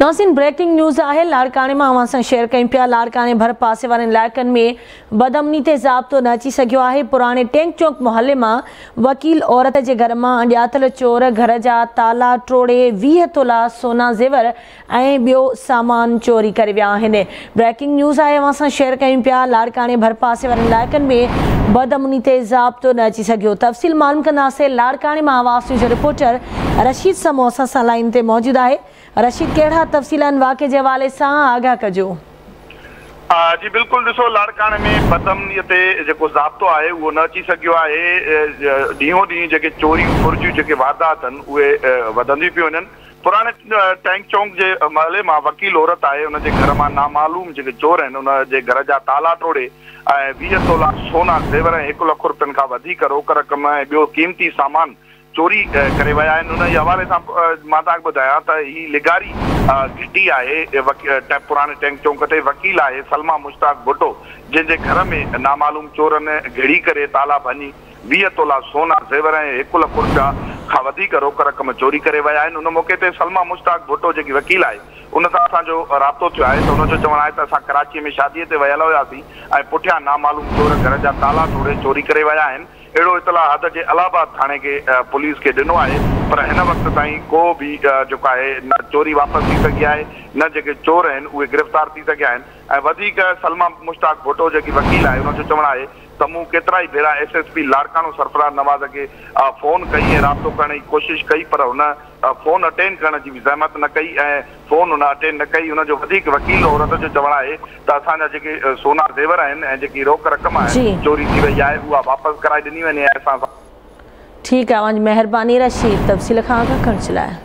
ناظرين breaking news آهي لاڙڪاڻي مان اوهان سان شيئر ڪيون پيا لاڙڪاڻي ڀر پاسي وارن علائقن ۾ بد امني تي ضابطو نه اچي سگهيو آهي پراڻي ٽينڪ چونڪ محلي مان وڪيل عورت جي گهر مان اڻڄاتل چور گهر جا تالا ٽوڙي ويهه تولا سونا زيور ۽ ٻيو سامان چوري ڪري ويا آهن بريڪنگ نيوز آهي اوهان سان شيئر ڪيون پيا لاڙڪاڻي ڀرپاسي وارن علائقن ۾ بدامني تي ضابطو نه اچي سگهيو تفصيل معلوم ڪنداسين لاڙڪاڻي مان حواس نيوز جو رپورٽر رشيد سمون اسان سان لائين تي موجود آهي رشيد ڪهڙا تفصيل آهن واقعي جي حوالي سان آگاهه ڪجو. جي بلڪل ڏسو لاڙڪاڻي ۾ بدامني تي جيڪو ضابطو آهي اهو نه اچي سگهيو آهي ڏينهون ڏينهن جيڪي چوريون ڦرجيون جيڪي واردات اهن اهي وڌنديون پيون وڃن. پراڻي ٽينڪ چونڪ جي محلي مان وڪيل عورت آهي ان جي گهر مان نامعلوم جيڪي چور آهن ان جي گهر جا تالا ٽوڙي ۽ ويهه تولا سونا زيور ۽ هڪ لک رپين کان وڌيڪ روڪ رقم ۽ ٻيو قيمتي سامان چوري ڪري ويا آهن ان جي حوالي سان مان تهان کي ٻڌايان ته هي لغاري گهٽي آهي پراڻي ٽينڪ چونڪ تي وڪيل آهي سلميٰ مشتاق ڀٽو جنهن جي گهر ۾ نامعلوم چورن گهڙي ڪري تالا ڀڃي ويهه تولا سونا، زيور ۽ هڪ لک رپيا کان وڌيڪ روڪ رقم چوري ڪري ويا آهن، ان موقعي تي سلميٰ مشتاق ڀٽو جيڪي وڪيل آهي ان سان اسان جو رابطو ٿيو آهي ته ان جو چوڻ آهي ته اسان ڪراچي ۾ شادي تي ويل هياسين ۽ پٺيان نامعلوم چور گهر جا تالا ٽوڙي چوري ڪري ويا آهن، اهڙو اطلاع حد جي الهه آباد ٿاڻي کي پوليس کي ڏنو آهي پر هن وقت تائين ڪو به جيڪو آهي نه چوري واپس ٿي سگهي آهي نه جيڪي چور آهن اهي گرفتار ٿي سگهيا آهن ۽ وڌيڪ سلميٰ مشتاق ڀٽو جيڪي وڪيل آهي ان جو چوڻ آهي ته مون ڪيترائي ڀيرا S S P Larkana Sarfaraz Nawaz کي فون ڪئي ۽ رابطو ڪرڻ جي ڪوشش ڪئي پر هن فون اٽينڊ ڪرڻ جي به زحمت نه ڪئي ۽ فون هن اٽينڊ نه ڪئي هن جو وڌيڪ وڪيل عورت جو چوڻ آهي ته اسان جا جيڪي سونا زيور آهن ۽ جيڪي روڪ رقم آهي جي چوري ٿي وئي آهي اها واپس ڪرائي ڏني وڃي ۽ اسان سان ٺيڪ آهي اوهان جي مهرباني رشيد تفصيل کان آگاهه ڪرڻ جي لاء.